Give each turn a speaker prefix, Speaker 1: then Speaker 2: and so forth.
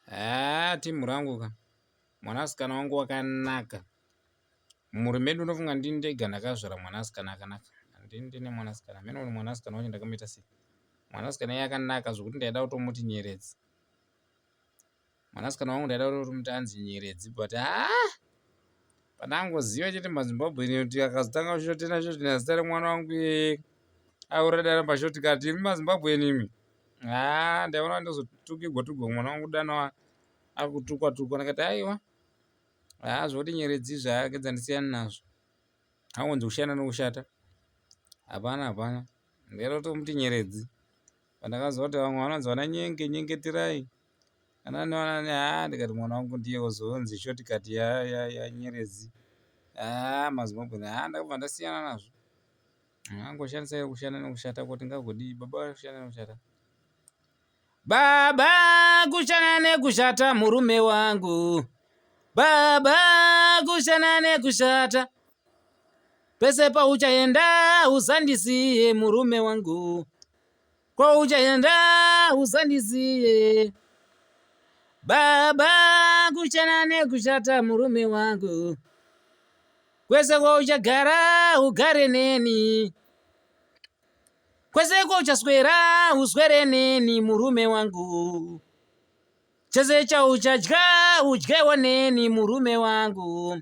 Speaker 1: haa timhu rangu ka mwanasikana wangu wakanaka mumhuri medu unofunga ndini ndega ndakazvara mwanasikana akanaka handini ndine mwanasikana hameno kuti mwanasikana wacho ndakamuita sei mwanasikana iye akanaka zvokuti ndaida kutomuti nyeredzi mwanasikana wangu ndaida kutomuti anzi nyeredzi but haa pandangoziva chete mazimbabwe ine kuti akazotanga kushotena shotena zita remwana wangu iye aurada ramba shoti kati imi mazimbabwe enimi Haa ndaiona ndozotukigwa tukigwa mwana wangu dana akutukwa tukwa ndikati aiwa haa zvekuti nyeredzi izvi haa gedza ndisiyane nazvo angonzi kushanda nekushata hapana hapana ndaida kutomuti nyeredzi pandakaziva kuti vamwe vanonzi vana nyenge nyengeterai ana nevanani haa ndikati mwana wangu ndiye ozonzi shortcut ya nyeredzi haa mazimbabwe haa ndakabva ndasiyana nazvo Angoshandisa iwe kushanda nekushata kuti ngagodii baba vari kushanda nekushata. Baba kushanda nekushata murume wangu. Baba kushanda nekushata. Pese pauchaenda usandisiye murume wangu. Kwauchaenda usandizive baba, kuchena nekushata murume wangu, kwese kwauchagara ugare neni, kwese kwauchaswera uswere neni murume wangu, chese chauchadya udyewo neni murume wangu.